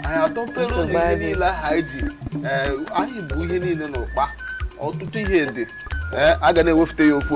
anyị atọpere ụlọ ihe niile ahụ anyị ji ee, anyị bu ihe niile n'ụkpa ọtụtụ ihe dị ee, a ga na-ewefute ya ofu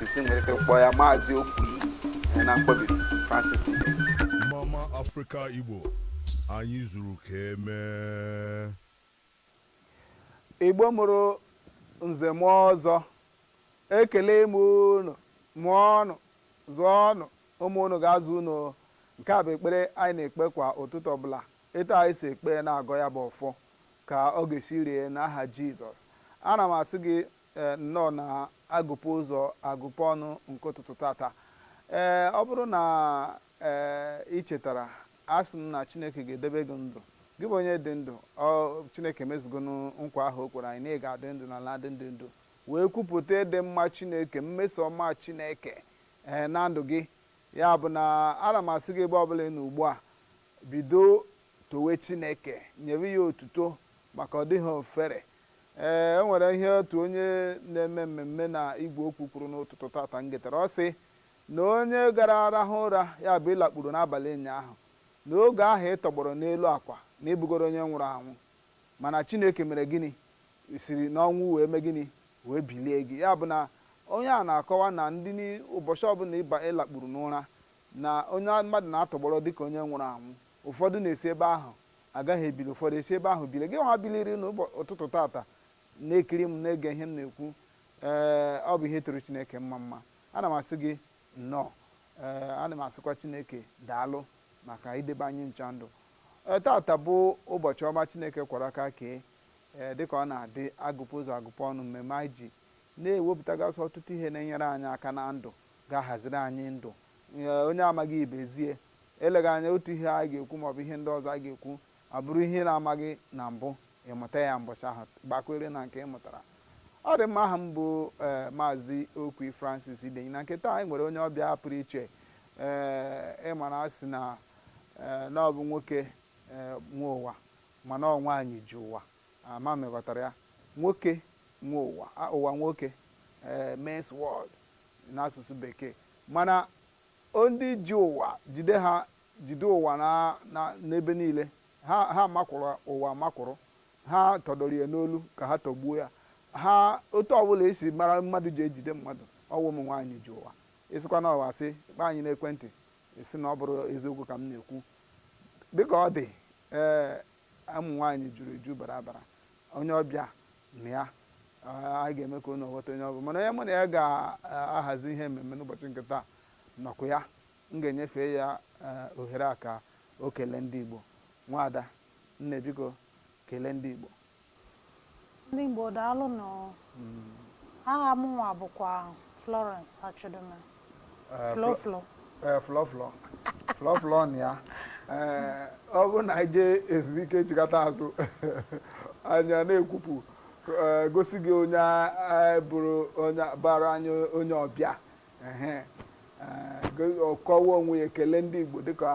Francis nwere ike kpọọ ya maazị Okwi eh, na mkpọbiri Francis Mama Africa Igbo anyị zuru ka e mee Igbo mụrụ nze mụọ ọzọ ekele m unu mụọnụ zụọnụ ụmụ unu ga-azụ unu nke a bụ ekpere anyị na-ekpe kwa ụtụtụ ọbụla etu anyị si ekpe na-agọ ya bụ ọfọ ka ọ ga-esi rie n'aha Jizọs ana m asị gị Ee, nnọọ na agụpe ụzọ agụpe ọnụ nke ụtụtụ tata. Ee, ọ bụrụ na ee, i chetara, a sị m na Chineke ga-edebe gị ndụ. Gị bụ onye dị ndụ, ọ Chineke emezugonụ nkwa ahụ o kwere anyị na ị ga-adị ndụ n'ala ndị dị ndụ, wee kwupụta ịdị mma Chineke, mmeso ọma Chineke ee, na ndụ gị. Ya bụ na ana m asị gị ebe ọ bụla ị nọ ugbu a, bido towe Chineke, nyebe ya otuto maka ọ dịghị ofere Ee, o nwere ihe otu onye na-eme mmemme na igwe okwu kwuru n'ụtụtụ tata m getere. Ọ sị na onye gara rahụ ụra, ya bụ ị lakpuru n'abalị ụnyaahụ, na oge ahụ ị tọgbọrọ n'elu akwa na ị bụgoro onye nwụrụ anwụ. Mana Chineke mere gịnị? Siri n'ọnwụ wee mee gịnị? Wee bilie gị. Ya bụ na onye a na-akọwa na ndị ni ụbọchị ọbụla ị ba ị lakpuru n'ụra, na onye mmadụ na-atọgbọrọ dịka onye nwụrụ anwụ. Ụfọdụ na-esi ebe ahụ Agaghị ebili, ụfọdụ esi ebe ahụ bilie. Gịnwa biliri n'ụtụtụ tata na-ekiri m, na-ege ihe m na-ekwu, ee, ọ bụ ihe tụrụ Chineke mmamma. Ana m asị gị nnọọ. Ee, ana m asịkwa Chineke daalụ maka idebe anyị ncha ndụ. Ee, tata bụ ụbọchị ọma Chineke kwọrọ aka kee. Ee, dịka ọ na-adị, agụpụ ụzọ agụpụ ọnụ, mmemme anyị ji na-ewepụtagasị ọtụtụ ihe na-enyere anyị aka na ndụ ga-ahaziri anyị ndụ. Ee, onye amaghị ibe ezie, Eleghị anya, otu ihe a ga-ekwu ma ọ bụ ihe ndị ọzọ a ga-ekwu abụrụ ihe ị na-amaghị na mbụ, ị mụta ya mbọchị ahụ, gbakwere na nke ị mụtara. Ọ dị mma, aha m bụ ee Maazị Okwi Francis Idenyi. Na nke taa, anyị nwere onye ọbịa pụrụ iche. Ee, ị mara a sị na ee na ọ bụ nwoke ee nwe ụwa mana ọ nwaanyị ji ụwa. Ama m ị ghọtara ya. Nwoke nwe ụwa, a ụwa nwoke, ee men's world n'asụsụ Bekee. Mana Ọ ndị ji ụwa, jide ha, jide ụwa na, na, n'ebe niile. Ha, ha makwụrụ ụwa amakwụrụ. Ha tọdoro ya n'olu ka ha tọgbuo ya. Ha, otu ọ bụla e si mara mmadụ ji ejide mmadụ, ọ wụ ụmụ nwanyị ji ụwa. Ị sịkwa na ọ asị, kpọọ anyị n'ekwentị, ị sị na ọ bụrụ eziokwu ka m na-ekwu. Dị ka ọ dị, ee, ụmụ nwanyị juru eju bara abara. Onye ọbịa, nọ ya. Anyị ga-eme ka unu ghọta onye ọ bụ. Mana onye mụ na ya ga-ahazi ihe mmemme n'ụbọchị nke taa nọkwa ya. M ga-enyefe ya ohere a ka o kelee ndị Igbo. Nwaada, Nne, biko, kelee ndị Igbo. Ndị Igbo, daalụ nụ. Aha mụnwa bụkwa Florence Achudume. eh, flọflọ eh, flọflọ flọflọ nọ ya eh, ọ bụrụ na anyị jee ezumike chigata azụ anyị ana-ekwupụ gosi gị onye bụrụ onye bịara anyị onye ọbịa ọ kọwaa onwe ya kelee ndị Igbo dịka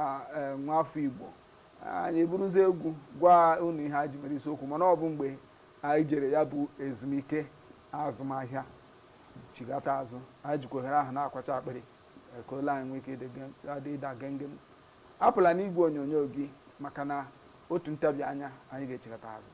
nwa afọ Igbo anyị eburuzie egwu gwa unu ihe anyị ji mere isiokwu mana ọ bụ mgbe anyị jere ya bụ ezumike azụmahịa chigata azụ anyị jikwa ohere ahụ na-akwacha akpịrị eh, ka olu anyị nwee ike ịda gengem apụla n'igwe onyonyo gị maka na otu ntabi anya anyị ga-echigata azụ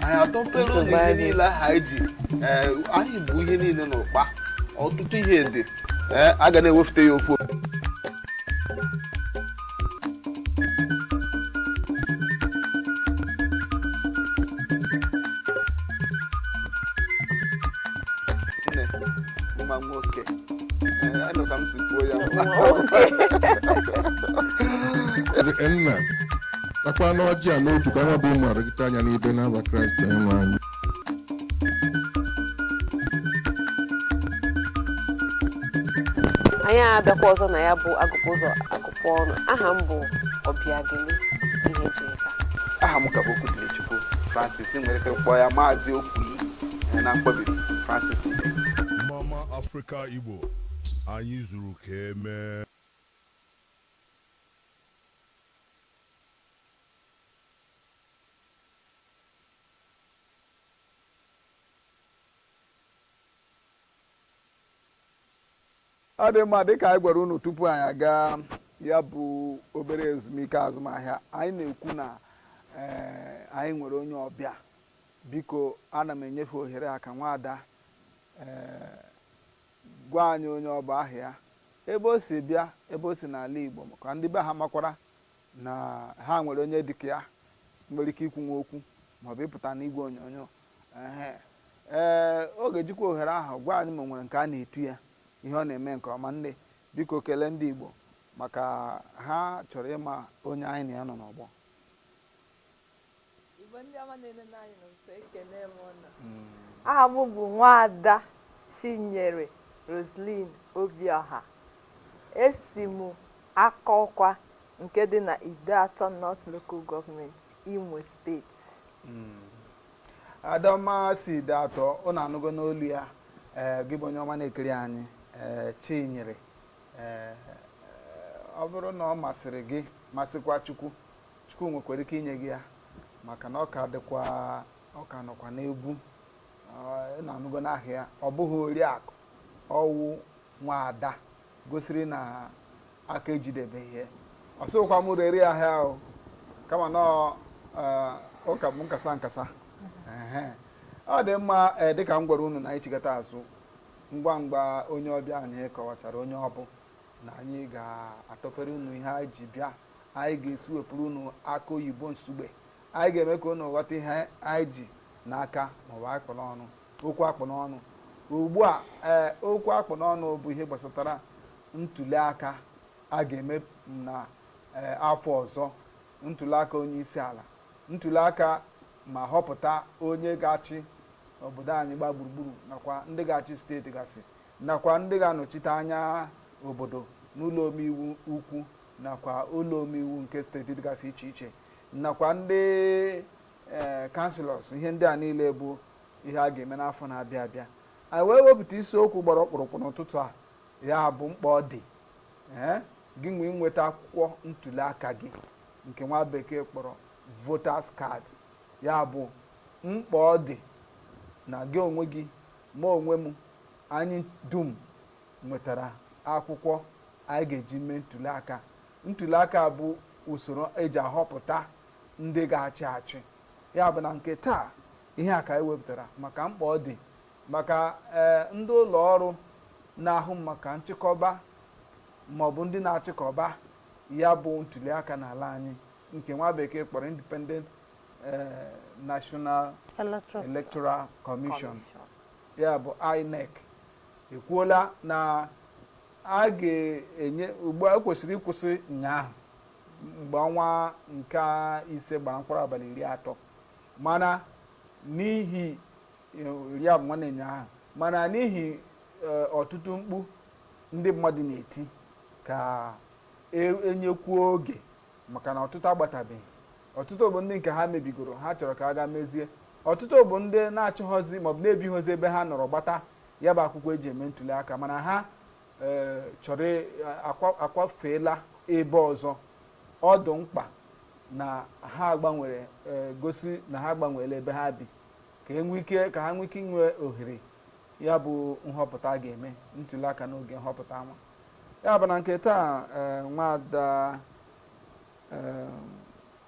anyị atọpere ụlọ Nsogbu ihe adị. niile aha anyị ji ee, anyị bu ihe niile n'ụkpa ọtụtụ ihe dị ee, a ga na-ewepụta ya ofu nne nwa nwoke Ee, anụ ka m si kwuo ya nwa Eze nna takwanụ ọjị a n'otu ka anyị bụ ụmụaka gị taa nya n'ibe n'afa Kraịst Onyenwe anyị anyị abịakwa ọzọ na ya bụ a gụpụ ụzọ a gụpụ ọnụ aha m bụ Ọbịageli Ihejirika aha m ka bụ Okwudịrịchukwu Francis nwere ike kpọọ ya maazị Okwii eh, na mkpọbiri Francis Ibe mama afrịka igbo anyị zuru ka e mee ọ dị mma dịka anyị gwara unu tupu anyị aga ya bụ obere ezumike azụmahịa anyị na-ekwu na eh, anyị nwere onye ọbịa biko ana m enyefe ohere a ka nwaada eh, gwa anyị onye ọ bụ aha ya ebe o si bịa ebe o si n'ala Igbo ka ndị be ha makwara na ha nwere onye dịka ya nwere ike ikwunwu okwu maọbụ ịpụta n'igwe onyonyo ehe ee ọ ga-ejikwa ohere ahụ gwa anyị ma o nwere nke a na-etu ya ihe ọ na-eme nke ọma nne biko kelee ndị Igbo maka ha chọrọ ịma onye anyị na ya nọ n'ọgbọ Aha m bụ Nwaada Chinyere Roseline Obiọha. Esi m Akọkwa nke dị na Ideatọ North Local Government, Imo Steeti. Ada ọma si Ideatọ, ụnụ anụgo n'olu ya. Ee, gị bụ onye ọma na-ekiri anyị, ee, Chinyere. Ee, ọ bụrụ na ọ masịrị gị, masịkwa Chukwu, Chukwu nwekwara ike inye gị ya maka na ọ ka dịkwa ọ ka nọkwa n'egwu unu anụgo n'aha ya ọ bụghị oriakụ ọwụ nwaada gosiri na aka ejidebeghị ya ọ sịkwa m rere ya ahịa ahụ kama na ụka bụ nkasa nkasa ọ dị mma eh, dịka m gwara unu na anyị chigata azụ ngwa ngwa onye ọbịa anyị kọwachara onye ọ bụ na anyị ga-atọpere unu ihe anyị ji bịa Anyị ga-esi wepụrụ unu akụ oyibo nsugbe. Anyị ga-eme ka unu ghọta ihe anyị ji n'aka maọbụ akpụ n'ọnụ, okwu akpụ n'ọnụ. Ugbu a, ee, okwu akpụ n'ọnụ bụ ihe gbasatara ntuliaka a ga-eme na ee, afọ ọzọ, ntuliaka onyeisiala, ntuliaka ma họpụta onye ga-achị obodo anyị gbaa gburugburu nakwa ndị ga-achị steeti gasị nakwa ndị ga-anọchite anya obodo n'ụlọ omeiwu ukwu nakwa ụlọ omeiwu nke steeti dịgasị iche iche nakwa ndị ee kanselọs ihe ndị a niile bụ ihe a ga-eme n'afọ na-abịa abịa anyị wee wepụta isiokwu gbara ọkpụrụkpụ n'ụtụtụ a ya bụ mkpa ọ dị ee gị nwee nweta akwụkwọ ntuli aka gị nke nwa bekee kpọrọ voters card ya bụ mkpa ọ dị na gị onwe gị ma onwe m anyị dum nwetara akwụkwọ anyị ga-eji mee ntuliaka. Ntuliaka bụ usoro e ji ahọpụta ndị ga-achị achị. Ya bụ na nke taa, ihe a ka anyị wepụtara maka mkpa ọ dị maka ee ndị ụlọ ọrụ na-ahụ maka nchịkọba ma ọ bụ ndị na-achịkọba ya bụ ntuliaka n'ala anyị nke nwa bekee kpọrọ Independent eh, National Electoral Commission, ya bụ INEC ekwuola na a ga-enye ugbu a kwesịrị ịkwụsị ụnyaahụ mgbe ọnwa nke ise gbara mkpụrụ abalị iri atọ mana n'ihi ya bụ nwanne ụnyaahụ mana n'ihi ọtụtụ mkpu ndị mmadụ na-eti ka enyekwuo oge maka na ọtụtụ agbatabeghị Ọtụtụ bụ ndị nke ha mebigoro, ha chọrọ ka a gaa mezie. Ọtụtụ bụ ndị na-achọghọzi maọbụ na-ebighọzi ebe ha nọrọ gbata ya bụ akwụkwọ eji eme ntuli aka mana ha ee chọrọ akwa- akwafeela ebe ọzọ. Ọ dị mkpa na ha gbanwere ee gosi na ha gbanweela ebe ha bi ka e nwee ike ka ha nwee ike inwe ohere ya bụ nhọpụta a ga-eme ntuli aka n'oge nhọpụta anwa. Ya bụ na nke taa ee nwaada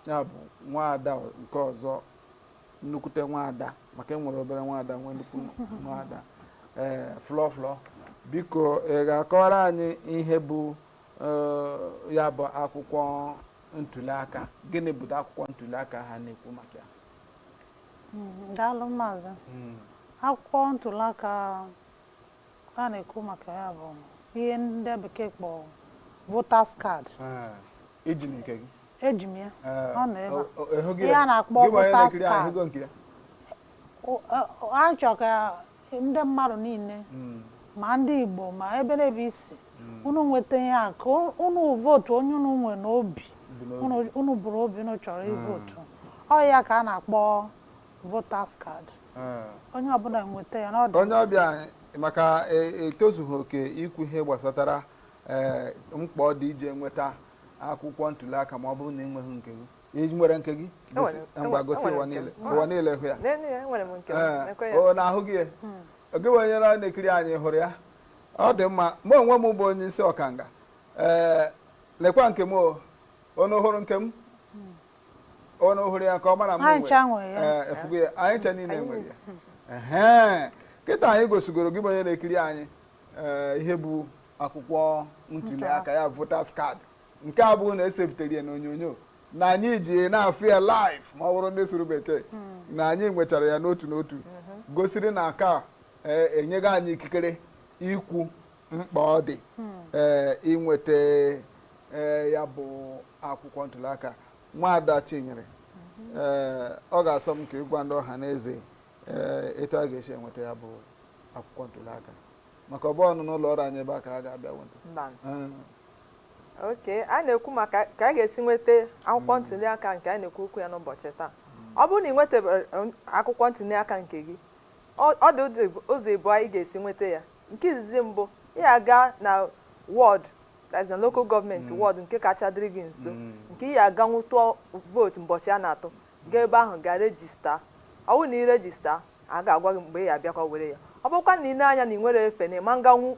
ya bụ nwaada nke ọzọ nnukwute nwaada maka enwere obere nwaada nwee nnukwu nwaada ee Flo Flo biko ị ga-akọwara anyị ihe bụ ya bụ akwụkwọ ntuliaka gịnị bụ akwụkwọ ntuliaka ha na-ekwu maka ya hmm, daalụ maazị hmm. akwụkwọ ntuliaka A na-ekwu maka ya bụ ihe ndị bekee kpọ voters card. Eji m nke gị. Eji m ya. Ọ nọ ebe a. Ihe a na-akpọ voters card. A chọrọ ka ndị mmadụ niile hmm. ma ndị Igbo ma ebe n'ebe i si hmm. unu nweta ihe a ka unu vootu onye unu nwe n'obi unu buru obi unu chọrọ hmm. ivotu ọ ya ka a na-akpọ voters card Ee. onye ọbụla nweta ya n'ọdụ onye ọbịa anyị maka e- etozughị oke ikwu ihe gbasatara ee, mkpa ọ dị ije nweta akwụkwọ ntuliaka ma ọ bụrụ na ị nweghị nke gị ị nwere nke gị gosi- Enwere- ngwa gosi enwere ụwa nke m. niile ụwa niile hụ ya N'elu ya, enwere m nke m. Ee, Nekwa ya. o na-ahụ gị ya oge bụ onye na- na-ekiri anyị hụrụ ya ọ dị mma mụ onwe m bụ onye isi ọkanga ee lekwa nke m o unu hụrụ nke m Unu hụrụ ya ka ọ mara mma nwe ị fụgo ya anyị ncha niile nwere ya ee kịta anyị gosigoro gị bụ onye na-ekiri anyị ihe bụ akwụkwọ ntuli aka ya voters card nke a bụ na e sepụtara ya n'onyonyo na anyị ji na-afụ ya live ma ọ bụrụ ndị sụrụ bekee hmm. na anyị nwechara ya n'otu n'otu hmm. gosiri na aka enyego anyị ikikere ikwu mkpa ọ dị hmm. ee inweta ya bụ akwụkwọ ntụliaka nwaada Chinyere ee ọ ga-asọ m ka ị gwa ndị ọha na eze ee etu a ga-esi enweta ya bụ akwụkwọ ntụliaka maka ọ bụhọnụ n'ụlọ ọrụ anyị ebe a ka a ga-abịa nweta Mba. Ee, okay a na-ekwu maka ka a ga-esi nweta akwụkwọ ntụliaka nke a na-ekwu okwu ya n'ụbọchị taa ọ bụrụ na ị nwetebero um, akwụkwọ ntụliaka nke gị ọ ọ dị ụzọ ịbụ- ụzọ ịbụọ ị ga-esi nweta ya Nke izizi mbụ, ị ya aga na wọd, that is na local government wọd nke kacha dịrị gị nso, nke ị ya aganwu tụọ vootu mbọchị a na-atụ. Gaa ebe ahụ gaa rejistaa. Ọ bụrụ na ị rejistaa, a ga-agwa gị mgbe ị ya abịakwa were ya. Ọ bụrụkwanụ na ị lee anya na ị nwerọ efe na ị ma nganwu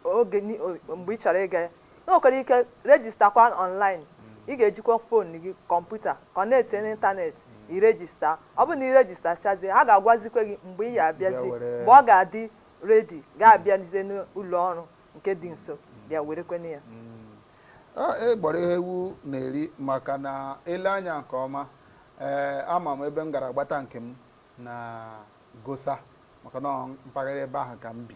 oge ni o mgbe ị chọrọ ịga ya, ị nwekwara ike rejistakwa ọnlaịn. Ị ga-ejikwa fon gị, kọmputa, kọnektie n'ịntanet, i rejistaa. Ọ bụrụ na ị rejistasịazie, ha ga-agwazikwa gị mgbe ị ya Bịa abịazi, were mgbe ya. ọ ga-adị redi ga-abịazi n'ụlọ ọrụ nke dị nso bịa werekwanụ ya Ọ, ị gbọrọ ihe ewu na-eri maka na e lee anya nke ọma ee ama m ebe m gara gbata nke m na Gosa maka na ọ mpaghara ebe ahụ ka m bi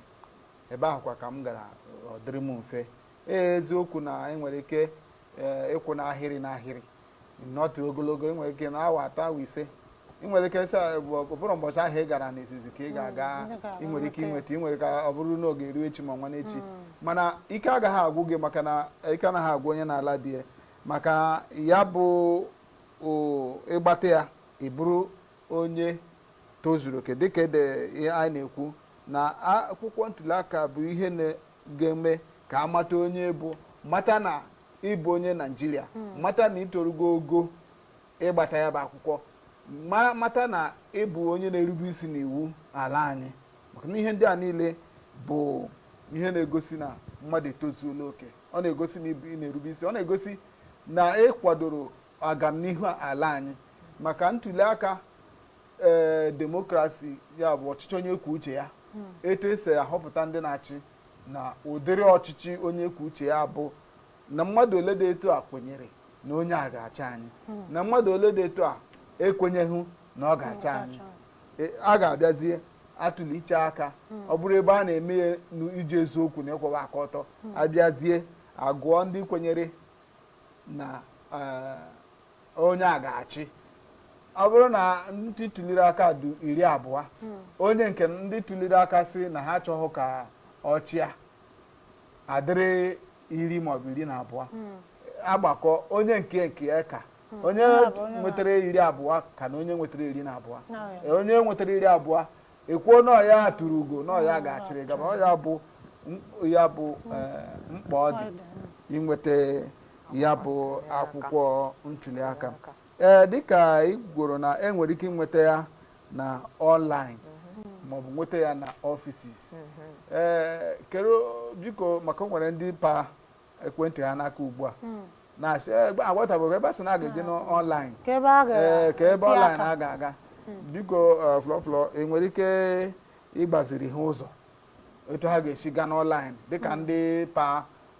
ebe ahụ kwa ka m gara ọ dịrị m mfe ee eziokwu na ị nwere ike ee, ịkwụ n'ahịrị n'ahịrị nọtụ ogologo ị nwere ike nọọ awa atọ awa ise ị nwere ike sị ọ bụrụ mbọchị ahụ ị gara n'izizi ka ị mm, ga-aga ị nwere ike inweta ị nwere ike ọ bụrụ na ọ ga-eru echi ma nwanne echi mm. mana ike agaghị agwụ gị maka na ike anaghị agwụ onye na-ala be ya maka ya bụ ị gbata ya ị bụrụ onye tozuru oke dịka ede ihe anyị na-ekwu na akwụkwọ ntuli aka bụ ihe ga-eme ka a mata onye ị bụ mata na ị bụ onye Naịjirịa hmm. mata na i torugo ogo ịgbata ya bụ akwụkwọ mata na ị bụ onye na-erube isi n'iwu ala anyị maka na ihe ndị a niile bụ ihe na-egosi na mmadụ etozuola oke ọ na-egosi na ị na-erube isi ọ na-egosi na ị kwadoro agamnihu ala anyị maka ntuli aka ee demokrasi ya bụ ọchịchị onye kwuo uche ya hmm. etu e si ahọpụta ndị na-achị na ụdịrị ọchịchị onye kwuo uche ya bụ na mmadụ ole dị etu a kwenyere na onye a ga-achị anyị hmm. na mmadụ ole dị etu a ekwenyeghị na ọ ga-achị hmm, anyị e, a ga-abịazie atụlicha aka ọ bụrụ ebe a na-eme ya n'iji eziokwu na ịkwụwa aka ọtọ a bịazie agụọ ndị kwenyere na e, onye a ga-achị ọ bụrụ na ndị tuliri aka dụ iri abụọ hmm. onye nke ndị tuliri aka si na ha achọghị ka ọ chịa adịrị iri maọbụ iri na abụọ hmm. agbakọ onye nke nke ya ka hmm. onye nwetara iri abụọ ka na onye nwetara iri na abụọ onye nwetara iri abụọ ekwuo na ọ ya tụrụ ugo na ọ ya ga-achịrị gaba ọ ya bụ ya bụ eh, mkpa ọ dị inweta ya bụ akwụkwọ ntuliaka ee eh, dịka ị gworo na enwere ike inweta ya na online mhm. maọbụ nweta ya na offices ee mhm. eh, kere biko maka o nwere ndị pa ekwentị ha n'aka ugbu a hmm. na-asị eh, aghọtabeghị ebe a sị na a ga-eje n'online kee ebe online a ga-aga hmm. biko eh, Flo Flo enwere ike ịgbaziri ha ụzọ etu ha ga-esi gaa n'online dịka hmm. ndị pa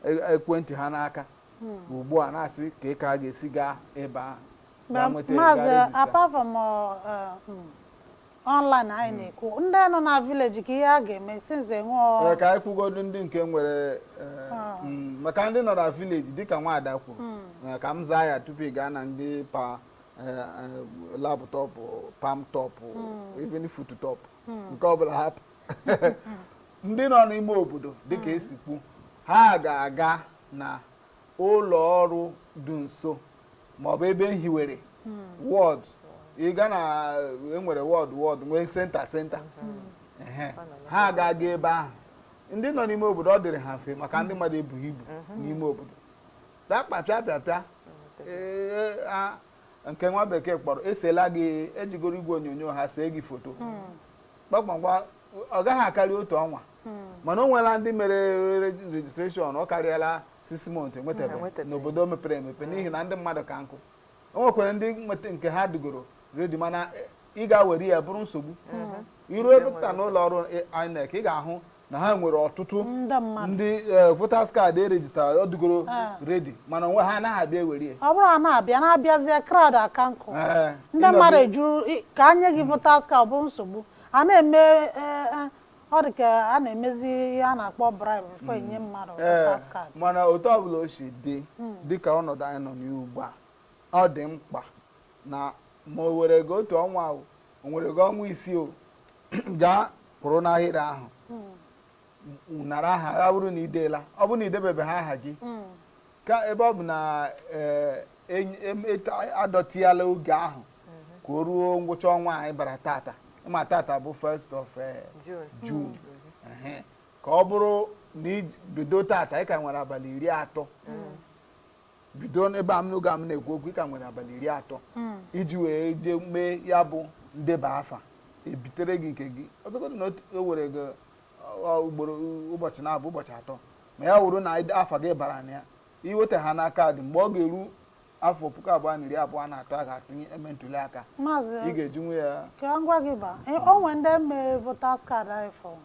e, ekwentị ha n'aka ugbu a na-asị kee ka a ga-esi gaa ebe a maazị apart from uh, uh, hmm, online anyị hmm. na-ekwu ndị nọ na village kee ihe a ga-eme since enwee eh, ka anyị kwugodu ndị nke nwere eh, ah. hmm, maka ndị nọ na village dịka nwaada kwuru hmm. eh, ka m zaa ya tupu ị gaa na ndị pa laptop palmtop even foot top nke ọbụla hapụ ndị nọ n'ime obodo dịka esi kwu ha ga-aga na ụlọ ọrụ dị nso maọbụ ebe e hiwere ward ịga na enwere ward ward nwee centre centre Ehe. ha ga-aga ebe ahụ ndị nọ n'ime obodo ọ dịrị ha mfe maka ndị mmadụ ebughị ibu n'ime obodo dakpapịa pịa pịa ee, a- nke nwa bekee kpọrọ esela gị ejigoro igwe onyonyo ha see gị foto kpakpakwa ọ gaghị akarị otu ọnwa mana o nweela ndị mere registration ọ karịala six months enwetabe n'obodo mepere emepe n'ihi na ndị mmadụ ka nkụ o nwekwara ndị nweta nke ha dụgoro ready mana eh, ị ga-were ya bụrụ nsogbu mm-hmm. iru ebe pụta n'ụlọ ọrụ eh, INEC ị ga-ahụ na ha nwere ọtụtụ ndị eh, voters card e rejistara ọ dụgoro ah. ready mana onwe ha anaghị abịa ewere ya ọ bụrụ ha na-abịa na-abịazie crowd aka nkụ eh, ndị mmadụ ejuru ka anye gị voters card bụ nsogbu a na-eme eh, eh, ọ dị ka a na-emezi ihe a na-akpọ bribe before enye mmadụ Ee, voters card mana otu ọbụla o si dị dịka ọnọdụ anyị nọ n'ugbu a ọ dị mkpa na ma o were gị otu ọnwa o o were gị ọnwa isii o gaa kwụrụ n'ahịrị ahụ nara aha ya bụrụ na ideela ọ bụrụ na idebebeghị aha gị mm. ka ebe ọ bụ na eh, adọtiela oge ahụ mm-hmm. ka o ruo ngwụcha ọnwa anyị bara tata ma tata bụ first of eh, June mm-hmm. ka ọ bụrụ na ibido tata ị ka nwere abalị iri atọ mm. bido ebe a m n'oge a m na-ekwu okwu ị ka nwere abalị iri atọ mm. iji wee jee mee ya bụ ndeba afa ebitere gị nke gị ọzọgodo na o were gị ugboro ụbọchị naabọ ụbọchị atọ ma ya wụrụ na afa gị bara na ya iweta ha na kaadị mgbe ọ ga-eru afọ puku abụọ na iri abụọ na atọ a ga-atụnye eme ntuli aka ị ga-eji nwe ya ka ngwa gị ba e, o nwere ndị mee voters card before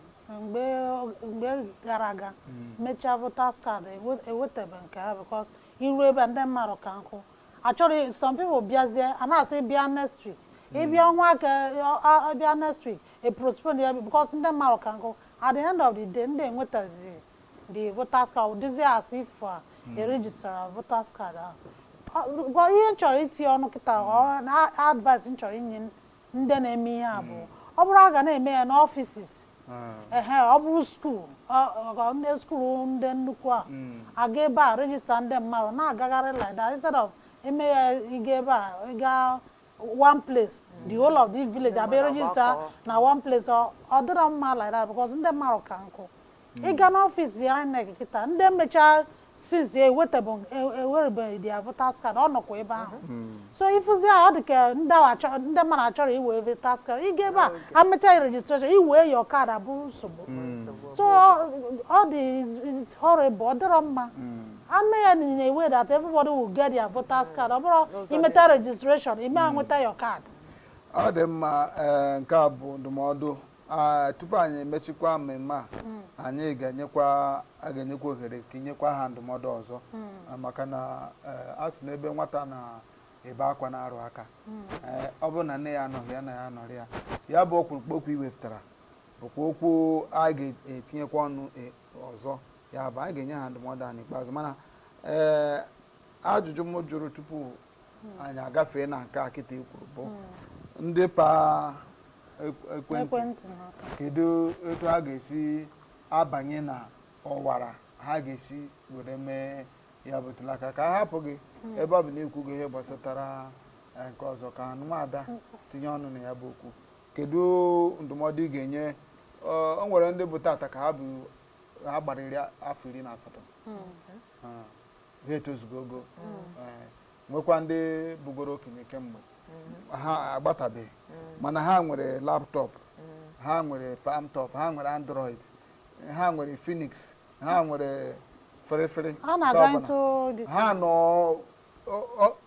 mgbe gara aga hmm. mechaa voters card ewetebeghị nke ha because iru ebe a ndị mmadụ ka nkụ actually some people bịazie a na-asị bịa next week ịbịa hmm. ọnwa aka bịa next week e postpone ya because ndị mmadụ ka nkụ at the end of the day ndị enwetazi the voters card dịzi as if uh, hmm. e registrara voters card ahụ ihe m chọrọ itinye ọnụ kịta hmm. advice m chọrọ inye ndị na-eme ihe a bụ ọ bụrụ a ga na-eme ya n'offices ehe ọ bụrụ skuul ọ- ọ- ndị skuul ndị nnukwu a aga ebe a rejista ndị mmadụ na-agagharị like that instead of eme ya ịga ebe a ịga one place the whole of this village abịa rejista na one place ọ ọ dịrọ mma like that because ndị mmadụ ka nkụ ịga n'ọfịs INEC kịta ndị mechaa since ewerebeghị their voters card ọ nọkwa ebe ahụ so ịfụzi ahụ ọ dị ka ndị mmadụ achọrọ iwe voters card ị ga ebe a amecha registration iwee your card abụrụ nsogbu so ọ dị it's horrible ọ dịrọ mma ame ya in a way that everybody will get their voters card ọ bụrụ imeta registration ime nweta your card ọ dị mma nke a bụ ndụmọdụ Ah, tupu anyị emechikwa mmemme a anyị ga-enyekwa a ga-enyekwa ohere ka inyekwa ha ndụmọdụ ọzọ Ah, maka na eh, a sị na ebe nwata na-ebe akwa na-arụ aka Eh, ọ bụrụ na nne ya anọghị ya nna ya anọrị ya ya bụ ọkpụrụkpụ okwu iwepụtara bụkwa okwu a ga-etinyekwa ọnụ eh, ọzọ ya bụ anyị ga-enye ha ndụmọdụ a n'ikpeazụ mana ee ajụjụ m jụrụ tupu anyị agafee na nke a kịta ikwuru bụ ndị pa ekwentị kedu etu ha ga-esi abanye na ọwara ha ga-esi were mee ya bụ ntuli aka ka a hapụ gị hmm. ebe ọ bụ na ikwugo ihe gbasatara eh, nke ọzọ ka nwaada hmm. tinye ọnụ na ya bụ okwu kedu ndụmọdụ ị ga-enye eh, o nwere ndị bụ tata ka ha gbarịrị afọ iri na asatọ hmm. ha etozugo ogo ee, nwekwa ndị bụgoro okenye kemgbe ha agbatabeghị mana ha nwere laptọp ha nwere palmtop ha nwere android ha nwere phoenix ha nwere ferefere ha nọ ọ- ọ-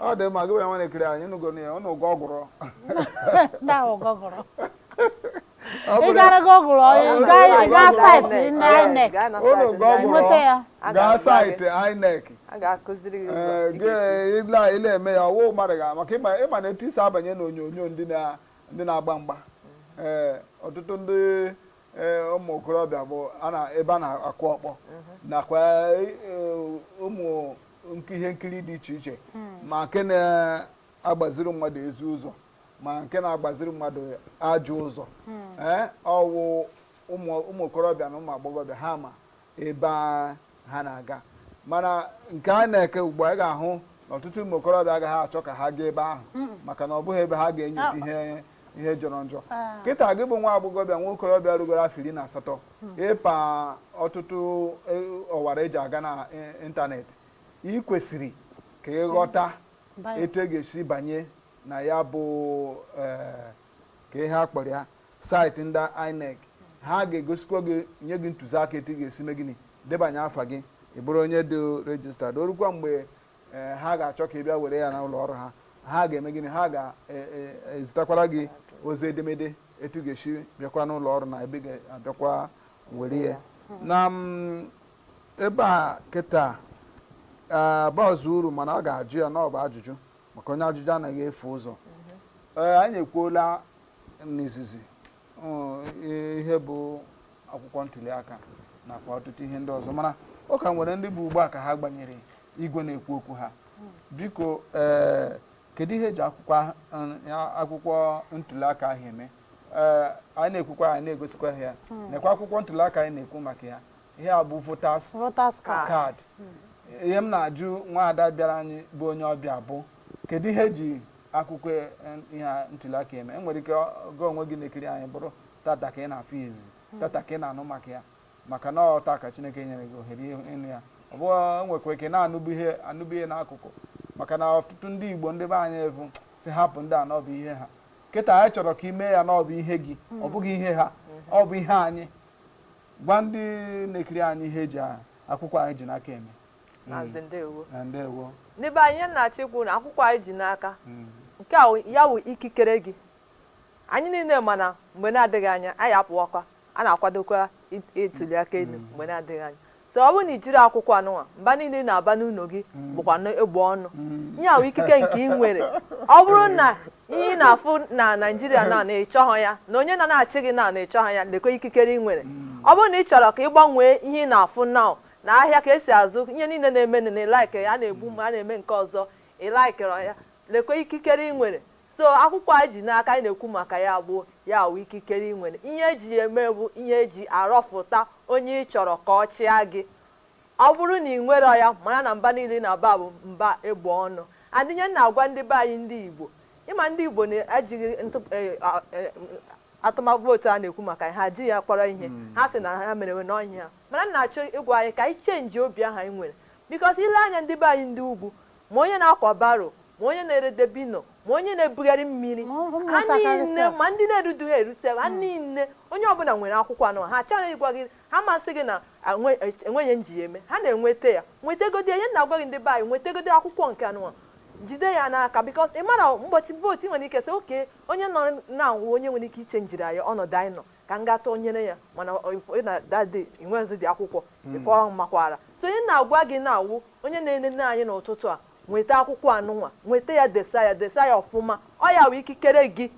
ọ dị mma gị bụ ya nwa na-ekiri anyị nụgo na ya ụnụ ụgwọ ọgwụrụ ndị ahụ gọgụrụ Ọ ị bụrụ- gara gọgụrụ Ọ bụrụ- gaa gaa gaa saịtị INEC. ndị Alright, INEC gaa na ụnụ site ụgwọ anyị. Nweta ya. ọgwụrụ A gaa ga-agwa gị. saịtị INEC A ga-akụziri gị ụzọ Ee, ị gị ga-esi. ile a- ile eme ya ọwụ mmadụ ga maka ịma ịma na etu isi abanye na onyonyo ndị na- ndị na-agba mgba ee ọtụtụ ndị ee, ụmụ okorobịa bụ a na- ebe a na-akụ ọkpọ nakwa ee, ụmụ ihe nkiri dị iche iche hmm. ma nke na-agbaziri mmadụ ezi ụzọ ma nke na-agbaziri mmadụ ajọ ụzọ hmm. ee eh, ọwụ ụmụ okorobịa na ụmụ agbọghọbịa ha ma ebe ha na-aga mana nke a na-ekwu ugbu a ị ga-ahụ na ọtụtụ ụmụ okorobịa agaghị achọ ka ha gaa ebe ahụ hmm. maka na ọ bụghị ebe ha ga-enyocha ihe ihe jọrọ njọ ah. kịta gị bụ nwa agbọghọbịa nwa okorobịa rugoro afọ iri na asatọ hmm. ịpa ọtụtụ e, ọwara eji aga na e, ịntanetị ị kwesịrị ka ị ghọta hmm. etu e ga-esi banye na ya bụ e, kee ihe a kpọrọ ya saịtị ndị INEC ha ga-egosikwa gị nye gị ntụziaka etu ị ga-esi mee gịnị debanye afa gị ị bụrụ onye dị rejistad o rukwa mgbe ee ha ga-achọ ka ị bịa were ya na ụlọ ọrụ ha ha ga-eme gịnị ha ga-ezitakwara gị ozi edemede etu ị ga-esi bịakwa n'ụlọ ọrụ na ebe ị ga-abịakwa were ya na mm, ebe a kịta bazị uru mana a ga-ajụ ya na ọ bụ ajụjụ maka onye ajụjụ anaghị efu ụzọ ee anyị ekwuola n'izizi ihe bụ akwụkwọ ntuli aka nakwa ọtụtụ ihe ndị ọzọ mana ọ ka nwere ndị bụ ugbu a ka ha gbanyere igwe na-ekwu okwu ha biko ee eh, kedu ihe eji akwụkwọ eh, akwụkwọ ntuli aka ahụ eme ee eh, anyị na-ekwukwa anyị na-egosikwa ha ya hmm. nekwa akwụkwọ ntuli aka anyị na-ekwu maka ya ihe a bụ voters card hmm. ihe m na-ajụ nwaada bịara anyị bụ onye ọbịa bụ kedu ihe eji akwụkwọ e, ihe ntuliaka eme enwere ike gị onwe gị na-ekiri anyị bụrụ tata ka ị na-afụ izizi hmm. tata ka ị na-anụ maka ya maka na ọ taa ka chineke nyere gị ohere ịnụ ya ọ bụ enwekwa ike na-anụbu ihe n'akụkụ maka na ọtụtụ ndị igbo ndị be anyị evu sị hapụ ndị a n'ọbụ ihe ha kịta anyị chọrọ ka ị mee ya n'ọbụ ihe gị ọ hmm. bụghị ihe ha hmm. ọ bụ ihe anyị gwa ndị na-ekiri anyị ihe eji akwụkwọ anyị ji n'aka eme Maazị ndewo. Eh, ndewo. Ndị be anyị ihe m na-achọ ikwu na akwụkwọ anyị ji n'aka mm. nke a ya wụ ikikere gị anyị niile ma na mgbe na-adịghị anya anyị apụwakwa a na-akwadokwa ituli aka elu mm. mgbe na-adịghị anya so ọ bụrụ na i jirọ akwụkwọ anụnwa mba niile ị na-aba n'ụlọ gị mm. bụkwa egbe ọnụ ihe a wụ ikike nke ị nwere ọ bụrụ na ihe ị na-afụ na Naịjirịa na na ịchọghọ ya na onye na na-achị gị na na ịchọghọ ya lekwa ikikere ị nwere ọ bụrụ na ị chọrọ ka ị gbanwee ihe ị na-afụ na Na ahịa ka esi azụ ihe niile na-emenụ na ị likerọ ya, a na-egbu mma, a na-eme nke ọzọ, ị likerọ ya, lekwa ikikere ị nwere. So akwụkwọ a ji n'aka anyị na-ekwu maka ya bụ ya wụ ikikere ị nwere. Ihe e ji ya eme bụ ihe e ji arọfụta onye ị chọrọ ka ọ chịa gị. Ọ bụrụ na ị nwerọ ya, mara na mba niile ị na-aba bụ mba egbe ọnụ. And ihe m na-agwa ndị be anyị ndị Igbo, ị ma ndị Igbo na ejighị ntụ e, a, e, atụma vootu a na-ekwu maka ya, ha ji ya kpọrọ ihe. Ha sị na ha merewe na ọ ihe ha. Mana m na-achọ ịgwa anyị ka anyị chenjie obi ahụ anyị nwere because i lee anya ndị be anyị ndị ugwu, ma onye na-akwa baro, ma onye na-ere dabino, ma onye na-ebugharị mmiri, Ma ụmụ ha nta karịsịa. niile, ma ndị na-erudughị eru sef, ha niile, onye ọbụla nwere akwụkwọ anụnwa. Ha achọghị ịgwa gị, ha ma sị gị na a nwe- e- enweghị ihe m ji ya eme. Ha na-enweta ya. Nwetegodi ya. Ihe m na-agwa gị ndị be anyị, nwetegodi akwụkwọ nke anụnwa. Jide ya n'aka because ị marọ ụbọchị vootu ị nwere ike sị okay onye nụnwa wụ onye nwere ike ichenjiri anyị ọnọdụ anyị nọ. ka m gaa tụnyere ya mana ọ- ịfụ- ị na that day i nwezidị akwụkwọ ị kwaa amakwaara so ihe m na-agwa gị nwa wụ onye na-enene anyị n'ụtụtụ a nweta akwụkwọ anụnwa nweta ya desa ya desa ya ọfụma ọ ya wụ ikikere gị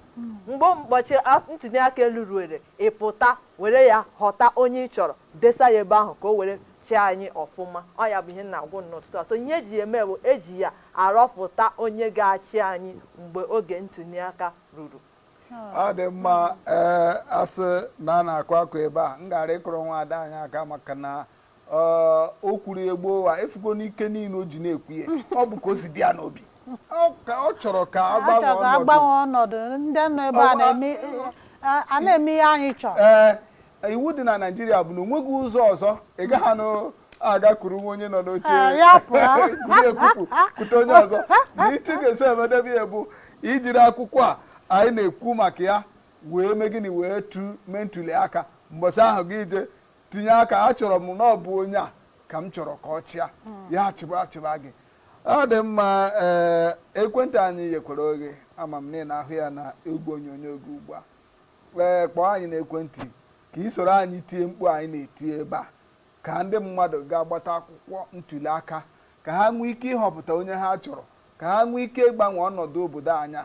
mgbe ụbọchị a- ntuli aka elu ruere ị pụta were ya họta onye ị chọrọ desa ya ebe ahụ ka o were chịa anyị ọfụma ọ ya bụ ihe m na-agwa unu n'ụtụtụ a so ihe eji ya eme bụ eji ya arọpụta onye ga-achị anyị mgbe oge ntuli aka ruru ọ dị mma ee a sị na a na-akụ akụ ebe a m gara ịkụrụ nwa ada anyị aka maka na ọ- o kwuru ya gboo wa ị fụgo n'ike niile o ji na-ekwu ya ọ bụ ka o si dị ya n'obi Ọ ka- ọ chọrọ ka a gbanwe chọrọ ka ọnọdụ a gbanwe ọnọdụ ndị nọ ebe a Ọ- na-eme a- a na-eme ihe anyị chọrọ ee Iwu dị na Naịjirịa bụ na o nweghị ụzọ ọzọ ị gaghị anụ aga kuru nwa onye nọ n'oche Ah, ya pụọ. kuru ekupu kute onye ọzọ na etu ị ga-esi emedebe ya bụ i jiri akwụkwọ a anyị na-ekwu maka ya wee mee gịnị wee tu mee ntuli aka mbọchị ahụ gị je tinye aka achọrọ m na ọ bụ onye a ka m chọrọ ka ọ chịa ya achịba achịba gị ọ dị mma ee ekwentị anyị yekwara oghe ama m na ị na-ahụ ya na igwe onyonyo gị ugbu a Ee, kpọọ anyị n'ekwentị ka ị soro anyị tie mkpu anyị na-eti ebe a ka ndị mmadụ ga-agbata akwụkwọ ntuli aka ka ha nwee ike ịhọpụta onye ha chọrọ ka ha nwee ike ịgbanwe ọnọdụ obodo anyị a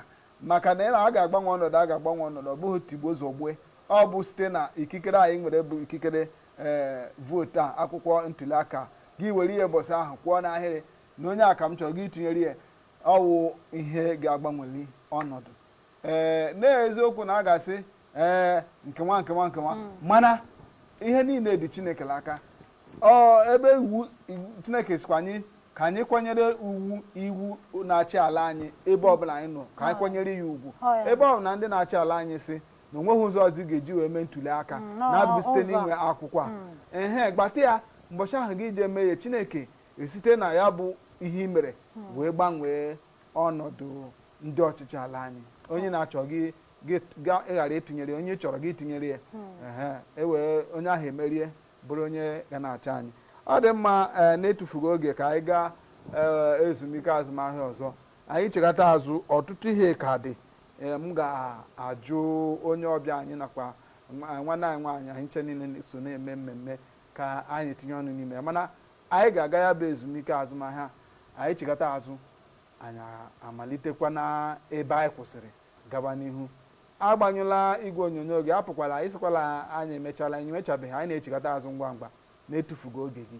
maka na ịna a ga-agbanwe ọnọdụ a ga-agbanwe ọnọdụ ọ bụghị tigbuo zọgbue ọ bụ site na ikikere anyị nwere bụ ikikere ee vootu a akwụkwọ ntuli aka gị were ya ụbọsị ahụ kwụọ n'ahịrị na onye a ka m chọrọ gị tụnyere ya ọ wụ ihe ga-agbanweli ọnọdụ ee n'eziokwu na a ga-asị ee nkewa nkewa nkewa mm. mana ihe niile dị chineke n'aka o ebe iwu chineke sịkwa anyị ka anyị kwanyere iwu iwu na-achị ala anyị ebe ọbụla anyị nọ ka anyị ah. kwanyere ya ugwu oh, ebe ọ bụ na ndị na-achị ala anyị sị na o nweghị ụzọ ọzọ a ga-eji wee mee ntuli aka mm, na-abụghị site n'inwe akwụkwọ a mm. ehe gbata ya mbọchị ahụ gị jee mee ya chineke esite na ya bụ ihe i mere wee gbanwee ọnọdụ ndị ọchịchị ala anyị onye ị na-achọghị gị ga- ị ghara ịtụnyere ya, onye ị chọrọ gị tụnyere ya Ehe, e wee onye ahụ emerie bụrụ onye ga na-achị anyị ọ dị mma ee, na-etufughị oge ka anyị gaa ee, ezumike azụmahịa ọzọ anyị chigata azụ ọtụtụ ihe ka dị Ee, m ga-ajụ onye ọbịa anyị nakwa nwa- nwanne anyị nwaanyị anyị ncha niile na- so na-eme mmemme ka anyị tinye ọnụ n'ime ya mana anyị ga-aga ya bụ ezumike azụmahịa anyị chigata azụ Anyị amalitekwa n'ebe anyị kwụsịrị gawa n'ihu. Agbanyụla igwe onyonyo gị, apụkwala, ị sịkwala anyị emechaala, anyị emechabeghị, anyị na-echigata azụ ngwa ngwa na-etufughị oge gị.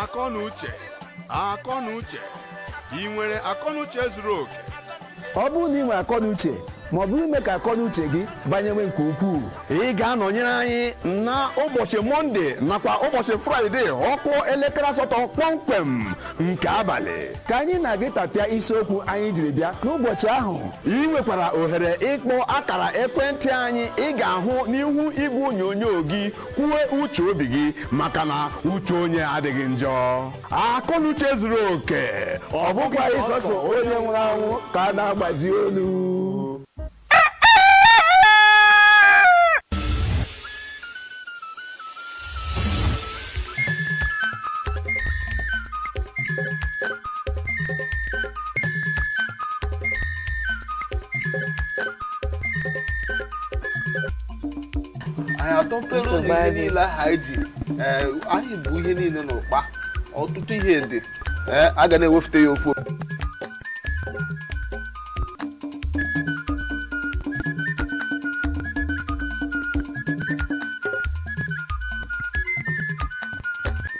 akọnuche akọnuche ị nwere akọnuche zuru oke ọ bụrụ na ị nwere akọnuche ma ọ bụ ime ka akọnuche gị banyewe nke ukwuu ị ga-anọnyere anyị na ụbọchị mọnde nakwa ụbọchị fraịde ọ kụọ elekere asatọ kpọmkwem nke abalị ka anyị na-aga ịtapịa isiokwu anyị jiri bịa n'ụbọchị ahụ ị nwekwara ohere ịkpọ akara ekwentị anyị ị ga-ahụ n'ihu igwe onyonyo gị kwuwe uche obi gị maka na uche onye adịghị njọ akọnuche zuru oke ọ bụkwa sọsọ onye nwụrụ anwụ ka a na-agbazi olu anyị atọpere ụlọ ihe niile ahụ anyị ji ee, anyị bu ihe niile n'ụkpa ọtụtụ ihe dị ee, a ga na-ewefute ya ofu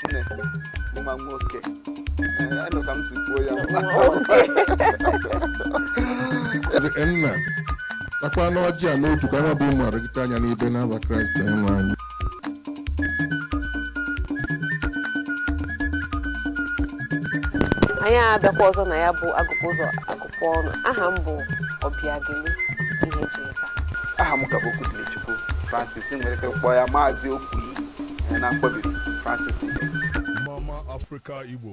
nne mma nwoke ee, anụ ka m si kwuo ya Nna, takwanụ ọjị a n'otu ka anyị bụ ụmụ oru gị taa nya n'ibe n'afa kraịst onyenwe anyị anyị abịakwa ọzọ na ya bụ agụkpụ ụzọ akụkọ ọnụ aha m bụ obiageli ihejeka aha m ka bụ okwubilichukwu francis nwere ike kpọọ ya maazị okwu ihe na mkpọbiri francis ihe mama afrịka igbo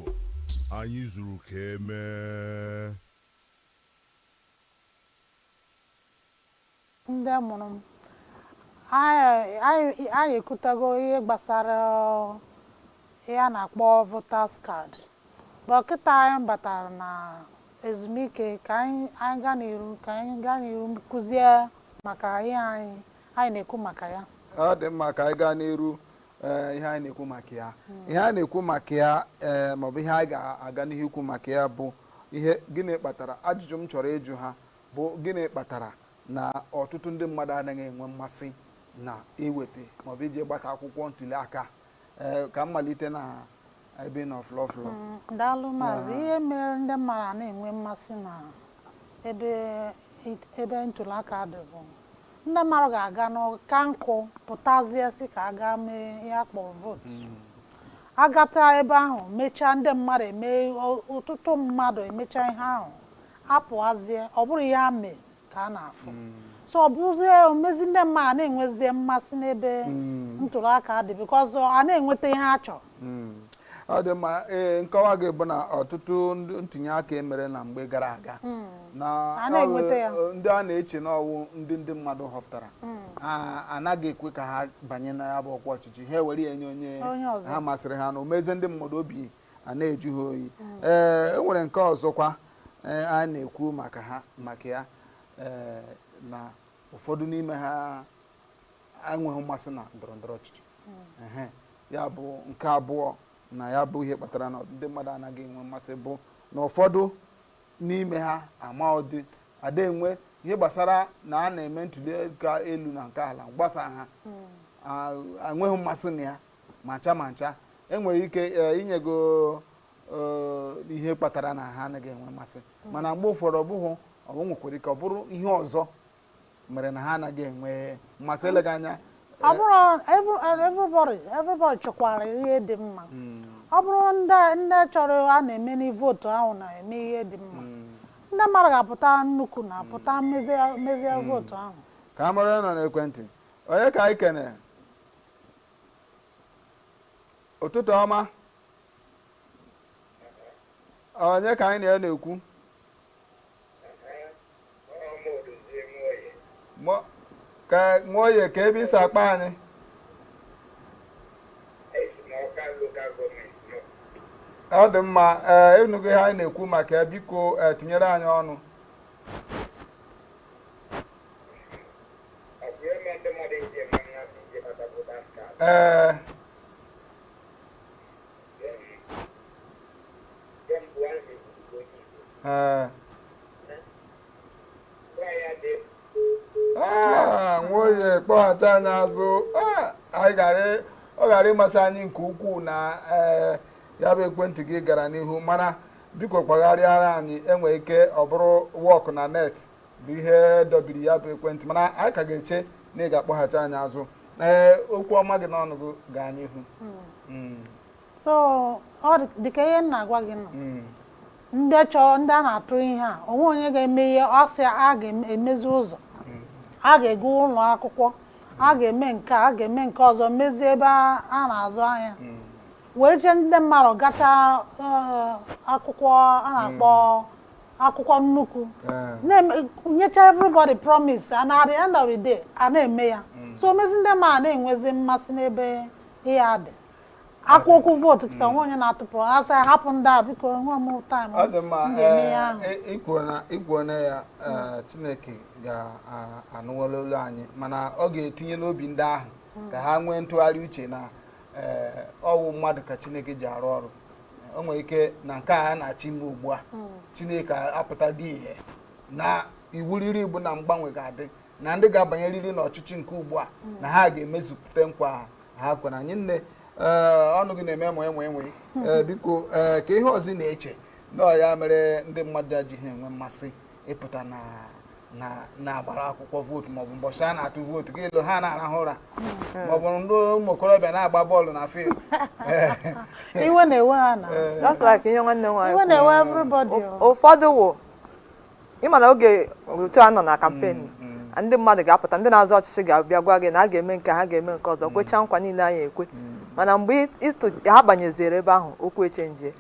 anyị zuru ka emee Ndị mụrụ m, anyị ekwutago ihe gbasara ihe a na-akpọ voters card, but kịta anyị batara na ezumike ka anyị gaa n'iru ka anyị gaa n'iru kuzie maka ihe anyị anyị na-ekwu maka ya. Ọ dị mma ka anyị gaa n'iru ihe anyị na-ekwu maka ya. Ihe anyị na-ekwu maka ya maọbụ ihe anyị ga-aga n'ihu ikwu maka ya bụ Ihe, Gịnị kpatara? Ajụjụ m chọrọ ịjụ ha bụ, Gịnị kpatara na ọtụtụ ndị mmadụ anaghị enwe mmasị na iweta maọbụ ije gbata akwụkwọ ntuliaka a? Ee, ka m malite na ebe ị nọ flọ flọ. Mm, Daalụ maazị. Ee. Ihe mere ndị mmadụ ana enwe mmasị na ebe it- ebe ntụliaka dị bụ Ndị mmadụ ga-aga n'ọka nkụ pụtazie sị ka a gaa mee ihe a kpọrọ vootu. Agata ebe ahụ mechaa ndị mmadụ eme ọtụtụ mmadụ emecha ihe ahụ apụazie ọ bụrụ ihe a mee ka a na-afụ so ọ bụzie o mezie ndị mmadụ ana enwezi mmasị n'ebe ntuli aka dị because ana enweta ihe a chọrọ. Hmm. ọ dị mma ee nkọwa gị bụ na ọtụtụ ntinye aka e mere na mgbe gara aga hmm. na A na-enweta ya. ọwụ- ndị a na-eche na ọ wụ ndị ndị mmadụ họpụtara a- anaghị ekwe ka ha banye na ya bụ ọkwa ọchịchị ha ewere ya nye onye Onye ọzọ. ha masịrị ha na o mezie ndị mmadụ obi a na-ajụ ha oyi ee e nwere nke ọzọkwa ee, a na-ekwu maka ha maka ya ee, na ụfọdụ n'ime ha enweghị mmasị na ndọrọ ndọrọ ọchịchị ehe ya bụ nke abụọ na ya bụ ihe kpatara na ndị mmadụ anaghị enwe mmasị bụ na ụfọdụ n'ime ha ama ọ dị ada enwe ihe gbasara na a na-eme ntuli aka elu na nke ala gbasa ha enweghị mmasị na ya ma ncha ma ncha e nwere ike e, i nyego e, ihe kpatara na ha anaghị enwe mmasị mana mgbe ụfọdụ ọ bụghị ọ nwekwara ike ọ bụrụ ihe ọzọ mere na ha anaghị enwe mmasị eleghị anya ọ eh, bụrụ every- eh, everybody everybody chọkwara ihe dị mma mm, ọ bụrụ ndị ndị chọrọ a na-eme n'i vootu ahụ na-eme ihe dị mma mm. ndị mmadụ ga-apụta nnukwu na-apụta mezie mezie vootu ahụ ka a mara onye nọ n'ekwentị onye ka anyị kene ụtụtụ ọma onye ka anyị na ya na-ekwu ka nwoye kee ebe i si akpọ anyị ọ dị mma ee ị nụgo ihe anyị na-ekwu maka ya biko eh, tinyere anyị ọnụ ee ee Ah, nwoye kpọghachi anyị azụ Ah, anyị gara ọ gara amasị anyị nke ukwuu na eh, ya bụ ekwentị gị gara n'ihu mana biko gbagharịara anyị enwe ike ọ bụrụ work na net bụ ihe dọbiri ya bụ ekwentị mana anyị ka ga-eche na ị ga-akpọghachi anyị azụ ee okwu ọma dị n'ọnụ gị gaa n'ihu hmm. Hmm. so ọ dịka ihe m na-agwa gị nọ hmm. ndị chọrọ ndị a na-atụ ihe a o nwe onye ga-eme ihe ọ sị a ga-emezi ụzọ a ga-ewu ụlọ akwụkwọ a ga-eme nke a ga-eme nke ọzọ mezie ebe a na-azụ ahịa wee jee ndị mmadụ gata eh, akwụkwọ a na-akpọ akwụkwọ nnukwu nyecha everybody promise and at the end of the day a na-eme ya mm. so o mezi ndị mmadụ na-enwezi mmasị n'ebe ihe a dị e kwuo okwu vootu kịta nwe onye na-atụpụ ha sị hapụ ndị a biko enwe m time ọ dị mma i kwuo na ya chineke ga-anụwala olu anyị mana ọ ga-etinye n'obi ndị ahụ ka ha nwee ntụgharị uche na ọ wụ mmadụ ka chineke ji arụ ọrụ o nwere ike na nke a na-achọ ime ugbu a hmm. chineke apụta dị ihe na iwu riri bụ na mgbanwe ga-adị na ndị ga-abanyerịrị n'ọchịchị nke ugbu a hmm. na ha ga-emezupụta nkwa ha kwere anyị nne eh, ọnụ gị na-eme enwe enwe enwe hmm. eh, biko eh, kee ihe ọzọ ị na-eche na ya mere ndị mmadụ ejighị enwe mmasị ịpụta na na na-agbara akwụkwọ vootu maọbụ mbọchị a na-atụ vootu gị elee ha na-arahụ ụra hmm. maọbụ ndị ụmụ okorobịa na-agba bọọlụ na field iwe na-ewe ha na iwe na-ewe everybody ụfọdụ wụ ị ma na oge otu a nọ na campaign hmm, hmm. ndị mmadụ ga-apụta ndị na-azọ ọchịchị ga-abịa gwa gị na a ga-eme nke ha ga-eme nke ọzọ kwechaa nkwa niile anyị ekwe mana mgbe ha banyeziri ebe ahụ okwu echenjie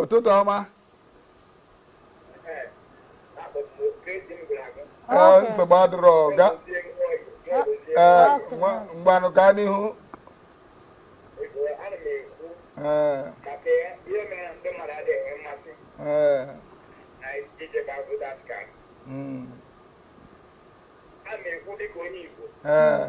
ụtụtụ ọma ee nsogbu adịrọ ga ee nwa- ngwanụ gaa n'ihu ee ee mm, ee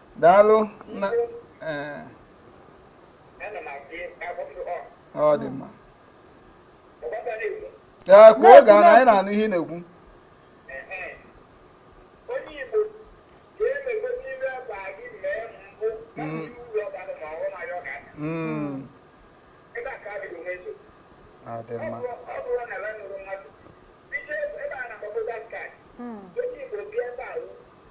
daalụ na ee ọ dị mma ee kwuo oge a na anyị na-anụ ihe ị na-ekwu Mm, ọ dị mma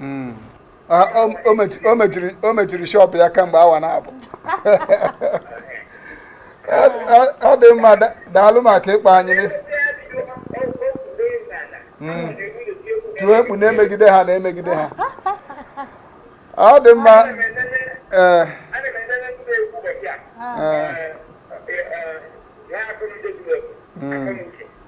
Mm. Ah, o- o mechi- o mechiri o mechiri shọpụ ya kamgbe awa naabọ Ọ- ọ- ọ dị mma da- daalụ maka ịkpọ anyị nị. Mm. tiwe mkpu na-emegide ha na-emegide ha ọ dị mma ee ee mm.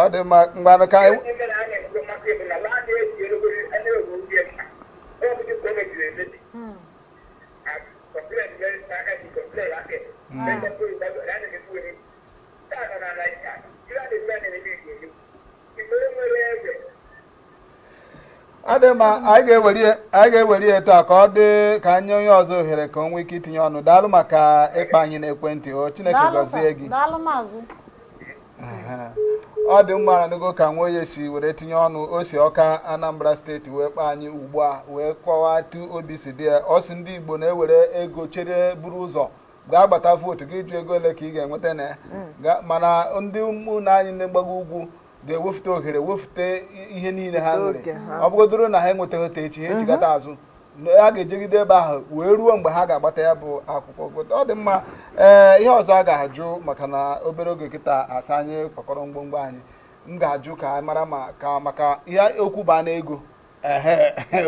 ọ dị mma ngwanụ ka anyị ọ dị mma anyị ga-ewere ya- anyị ga-ewere ya etu a ka ọ dị ka anyị nye onye ọzọ ohere ka o nwee ike itinye ọnụ daalụ maka ịkpọ anyị n'ekwentị o chineke Daalụ gọzie sir. gị Daalụ maazị. Aha. ọ dị mma anụgo ka nwoye si were tinye ọnụ o si ọka anambra steeti wee kpọọ anyị ugbu a wee kọwaa etu obi si dị ya ọ sị ndị igbo na-ewere ego chere buru ụzọ gaa gbata vootu gị jụ ego ole ka ị ga-enweta na ya Ga- mana ndị ụmụnna anyị ndị mgbago ugwu ga-ewefute ohere wefute ihe niile ha nwere ọ bụgodoro na ha enwetaghị taa echi ha mhm. echighata azụ a ga-ejegide ebe ahụ wee ruo mgbe ha ga-agbata ya bụ akwụkwọ vootu ọ dị mma ee eh, ihe ọzọ a ga-ajụ maka na obere oge kịta a sị anyị kwakọrọ ngwongwo anyị m ga-ajụ ka anyị mara ka maka ihe okwu baa na ego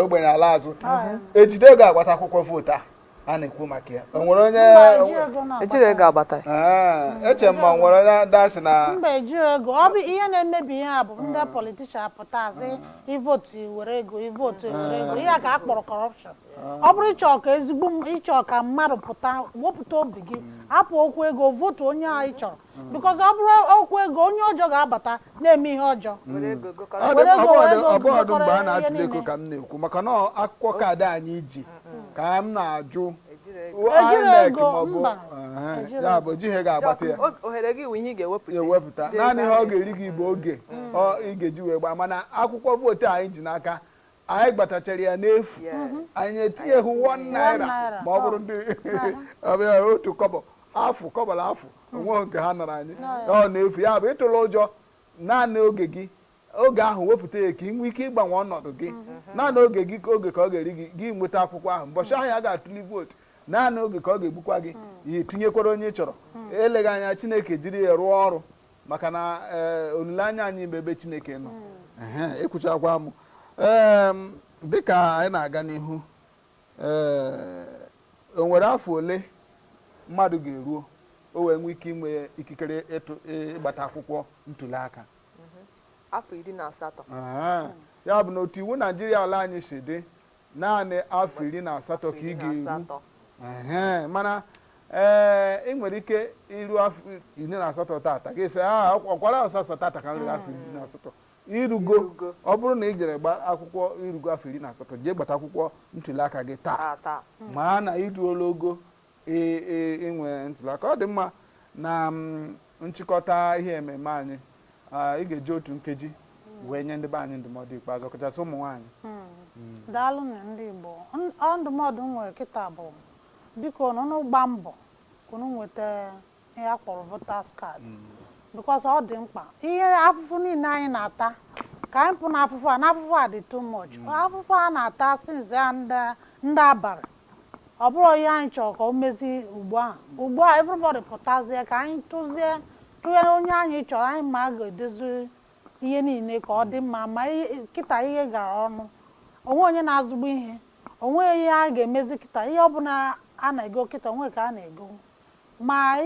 ogbenye ala azụ ejide ga-agbata akwụkwọ vootu a a na-ekwu maka ya o nwere onye ejiri ego agbata eche m ma o nwere onye ga-asị na mba ejirọ ego ọ bụ ihe na-emebi ihe bụ ndị hmm. politician pụta sị hmm. i votu i were ego i votu i were ego ihe a ka a kpọrọ corruption hmm. ọ bụrụ ị chọrọ ka ezigbo ị chọrọ ka mmadụ pụta wepụta obi gị hapụ okwu ego votu onye a ị chọrọ hmm. because ọ bụrụ okwu ego onye ọjọọ ga-abata na-eme ihe ọjọọ ọ bụghịdị mgbe a na-atụle ego ka m na-ekwu maka na akwụkwọ kaadị anyị ji ka m na-ajụ ejiri ego maọbụ ya bụ ejighị ego agbata ya ewepụta naanị ihe ọ ga-eri gị bụ oge ị ga-eji wee gbaa mana akwụkwọ vootu anyị ji n'aka anyị gbatachara ya n'efu anyị etinyeghị one naira naira. ma ọ bụrụ ndị ọbịa otu kọbọ afụ kọbọ na afụ onweghị nke ha nara anyị ọ n'efu ya bụ ịtụla ụjọ naanị oge gị oge ahụ wepụta ya ka ị nwee ike ịgbanwe ọnọdụ gị naanị oge gị ka oge ka ọ ga-eri gị gị nweta akwụkwọ ahụ mbọchị ahụ a ga-atụli vootu naanị oge ka ọ ga-egbukwa gị jee tinyekwara onye ị chọrọ eleghị anya chineke jiri ya rụọ ọrụ maka na eh, olileanya anyị bụ ebe chineke nọ Ehe, i kwuchakwaa Em, dịka anyị na-aga n'ihu eh, o nwere afọ ole mmadụ ga-eruo o wee nwee ike inwe ikikere ịtụ ịgbata akwụkwọ ntuli aka afọ iri na asatọ Aha. ya bụ na otu iwu naijiria ala anyị si dị Naanị afọ iri na asatọ ka ị ga-eru. Mana ee ị nwere ike iru afọ iri na asatọ tata gị sị a ọkwara sọsọ tata ka m ruru afọ iri na asatọ i rugo ọ bụrụ na ị jere gbaa akwụkwọ i rugo afọ iri na asatọ jee gbata akwụkwọ ntuliaka gị taa maa na i ruola ogo inwe ntuliaka ọ dị mma na nchịkọta ihe ememe anyị ị ga-eji otu nkeji wee nye ndị be anyị ndụmọdụ ikpeazụ ọkachasị ụmụ nwaanyị hmm. hmm. daalụnụ ndị Igbo ndụmọdụ m nwere kịta bụ bikonụ unu gbaa mbọ ka unu nweta ihe a kpọrọ voters card because ọ dị mkpa ihe afụfụ niile anyị na-ata ka anyị pụ n'afụfụ a n'afụfụ a dị too much afụfụ a na-ata since ya ndị ndị abalị ọ bụrụ ihe anyị chọrọ ka e mezie ugbu a ugbu a everybody pụtazie ka anyị tụzie tụnye onye anyị chọrọ anyị ma ga-edozi ihe niile ka ọ dị mma ma ihe- kịta ihe gara ọnụ o nwe onye na-azụbu ihe o nwe ihe a ga-emezi kịta ihe ọbụla a na-ego kịta o nwe ka a na-ego ma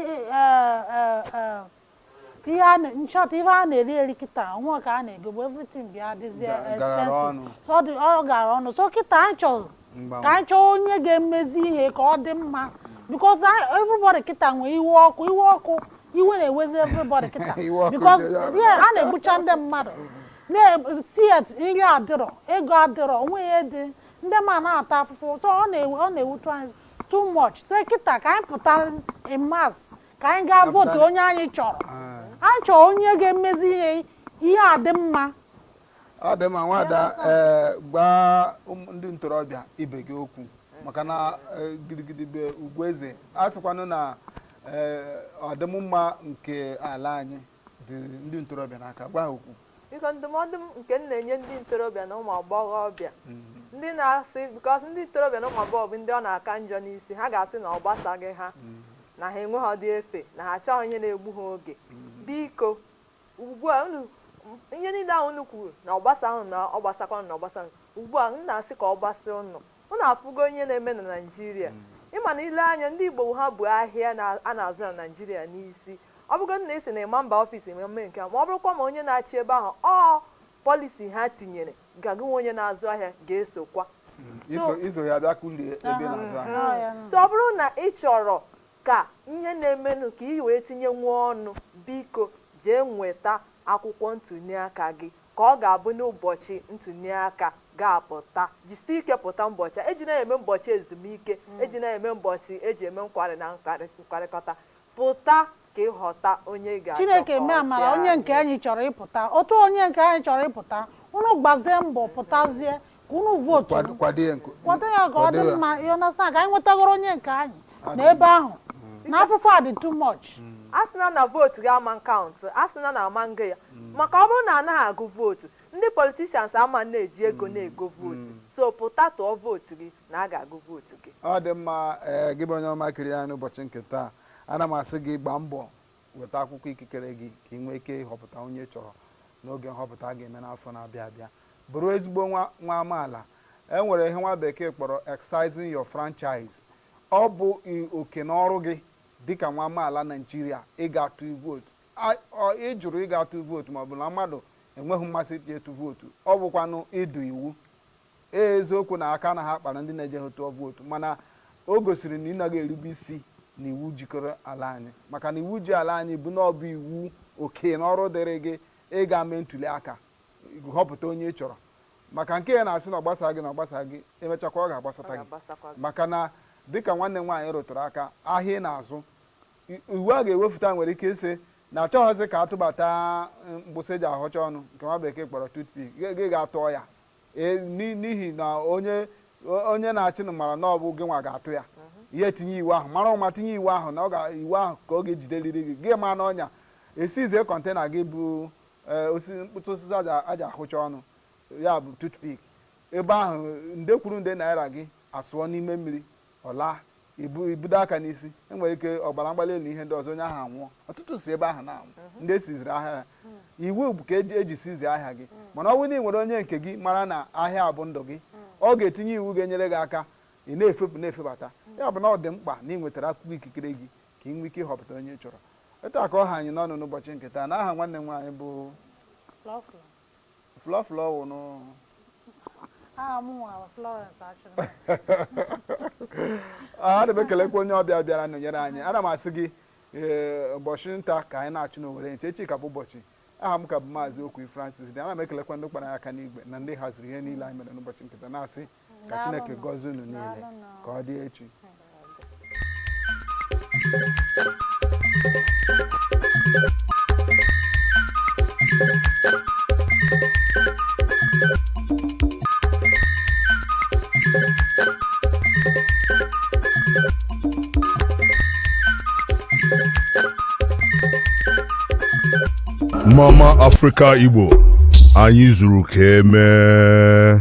nchọta ife a na-eri eri kịta o nwe ka a na-egobu everything bịa dịzie expensive ọ gara ọnụ so kịta anyị chọrọ ka anyị chọọ onye ga-emezi ihe ka ọ dị mma because everybody kịta na-ewe iwe ọkụ iwe ọkụ iwe na-ewezi everybody kịta because a na-egbucha ndị mmadụ na street nri adịrọ ego adịrọ o nwe ihe dị ndị mmadụ na-ata afụfụ so ọ na-ewutu anyị too much so kịta ka anyị pụta in mass ka anyị gaa votu onye anyị chọrọ anyị chọrọ onye ga-emezi ihe ihe adị mma ọ dị mma nwada ee gbaa ụmụ- ndị ntorobịa ibe gị okwu maka na eh, gidigidi bụ ugwu eze a sịkwanụ na eh, ọdịmma nke ala anyị dị ndị ntorobịa n'aka gwa ha okwu biko ndụmọdụ m nke m na-enye ndị ntorobịa na ụmụ agbọghọbịa ndị na-asị because ndị ntorobịa na ụmụ agbọghọ bụ ndị ọ na-aka njọ n'isi ha ga-asị na ọ gbasaghị ha na ha enweghịdị efe na ha achọghị ihe na-egbu ha oge biko ugbu a ihe niile ahụ unu kwuru na ọ gbasaghị unu na ọ gbasakwa unu na ọ gbasa unu ugbu a m na-asị ka ọ gbasa unu unu afụgo ihe na-eme na naijiria ịma na ile anya ndị igbo ha bu ahịa na- a na-azụ na naijiria n'isi Ọ bụrụgodị na ị sị na ị ma mba ọfịs ma mee nke a, ma ọ bụrụkwa ma onye na-achị ebe ahụ ọ policy ha tinyere ga gị nwa onye na-azụ ahịa ga-esokwa. So, iso ya bịa kụlie ebe ị na-azụ ahịa. So ọ bụrụ na ị chọrọ ka ihe na-emenụ ka ị wee tinye nwee ọnụ, biko jee nweta akwụkwọ ntuliaka gị ka ọ ga-abụ n'ụbọchị ntuliaka ga-apụta, jisie ike pụta mbọchị a. Ejina ya eme mbọchị ezumike, ejina ya eme mbọchị e ji eme nkwarị na nkwarịkọta. Pụta ka ị họta onye ga-achị. Chineke mee amara, onye nke anyị chọrọ ịpụta. Otu onye nke anyị chọrọ ịpụta, unu gbazie mbọ pụtazie ka unu vootu kwado ya. Kwado ya ka ọ dị mma, you understand, ka anyị nwetagoro onye nke anyị na ebe ahụ. Na afụfụ a dị too much. asịna na vootu gị ama kaụntụ asịna na ama agụ ya maka ọ bụrụ na anaghị agụ vootu Ndị politicians ama na-eji ego na-ego vootu, so pụta tụọ vootu gị na a ga-agụ vootu gị. Ọ dị mma, ee, gị bụ onye ọma kiri anyị n'ụbọchị nke taa, ana m asị gị gbaa mbọ weta akwụkwọ ikikere gị ka ị nwee ike ịhọpụta onye ị chọrọ n'oge nhọpụta a ga-eme n'afọ na-abịa abịa. Bụrụ ezigbo nwa nwa amaala. E nwere ihe nwa bekee kpọrọ exercising your franchise. Ọ bụ oke na ọrụ gị dịka nwa amaala Naịjirịa ịga atụ vootu. Ị jụrụ ịga atụ vootu maọbụ na mmadụ enweghị mmasị ịtụ vootu, ọ bụkwanụ ịda iwu. Ee, eziokwu na aka anaghị akpara ndị na-ejeghị tụọ vootu mana o gosiri na ị naghị erube isi n'iwu jikọrọ ala anyị maka na iwu ji ala anyị bụ na ọ bụ iwu, oke na ọrụ dịrị gị ịga mee ntuli aka họpụta onye ị chọrọ. Maka nke ị na-asị na ọ gbasaghị gị na ọ gbasaghị gị, e mechakwa ọ ga-agbasata gị. Maka na dịka nwanne m nwaanyị rụtụrụ aka, ahịa ị na-azụ, Iwu a ga-ewefuta nwere ike ịsị na achọghọzị ka a tụbata mkpụsị e ji ahọcha ọnụ nke nwa bekee kpọrọ toothpick, gị gaa tụọ ya e, n'ihi na onye onye na-achịnụ mara na ọ bụ gịnwa ga-atụ ya, ya etinye iwu ahụ, mara ụma tinye iwu ahụ na ọ ga iwu ahụ ka ọ ga-ejideliri gị, gị maa n'ọnya, e siizie kọntena gị bụ e, osisi mkpụsị osisi e ji ahụcha ọnụ, ya bụ toothpick, ebe ahụ nde kwuru nde naira gị asụọ n'ime mmiri. Ọ laa, i bu- i budo aka n'isi. E nwere ike ọbara mgbali elu na ihe ndị ọzọ, onye ahụ anwụọ. Ọtụtụ si ebe ahụ na-anwụ, ndị e siziri ahịa ha. Iwu bụ ka e ji- e ji sizie ahịa gị. Mana ọ bụrụ na i nwere onye nke gị mara na ahịa a bụ ndụ gị, ọ ga-etinye iwu ga-enyere gị aka ị na-efepụ na-efebata. Ya bụ na ọ dị mkpa na ị nwetara akwụkwọ ikikere gị ka ị nwee ike ịhọpụta onye ị chọrọ. Etu a ka ọ ha anyị n'ọnụ n'ụbọchị nke taa. N'aha nwanne m nwaanyị bụ Lọfụlọ. Flọ flọ wụnụ. Aha m nwa Florence Achụrụ. Ah, Ana m ekelekwa onye ọbịa bịara nọnyere anyị. Ana m asị gị ee, ụbọchị nta ka anyị na-achụ n'owere nchi, echi ka bụ ụbọchị. Aha m ka bụ Maazị Okwi Francis dị. Ana m ekelekwa ndị kpara aka n'igwe na ndị haziri ihe niile anyị mere n'ụbọchị nke taa na-asị ka Chineke gọzie unu niile ka ọ dị echi Mama Africa Igbo anyị zuru ka emee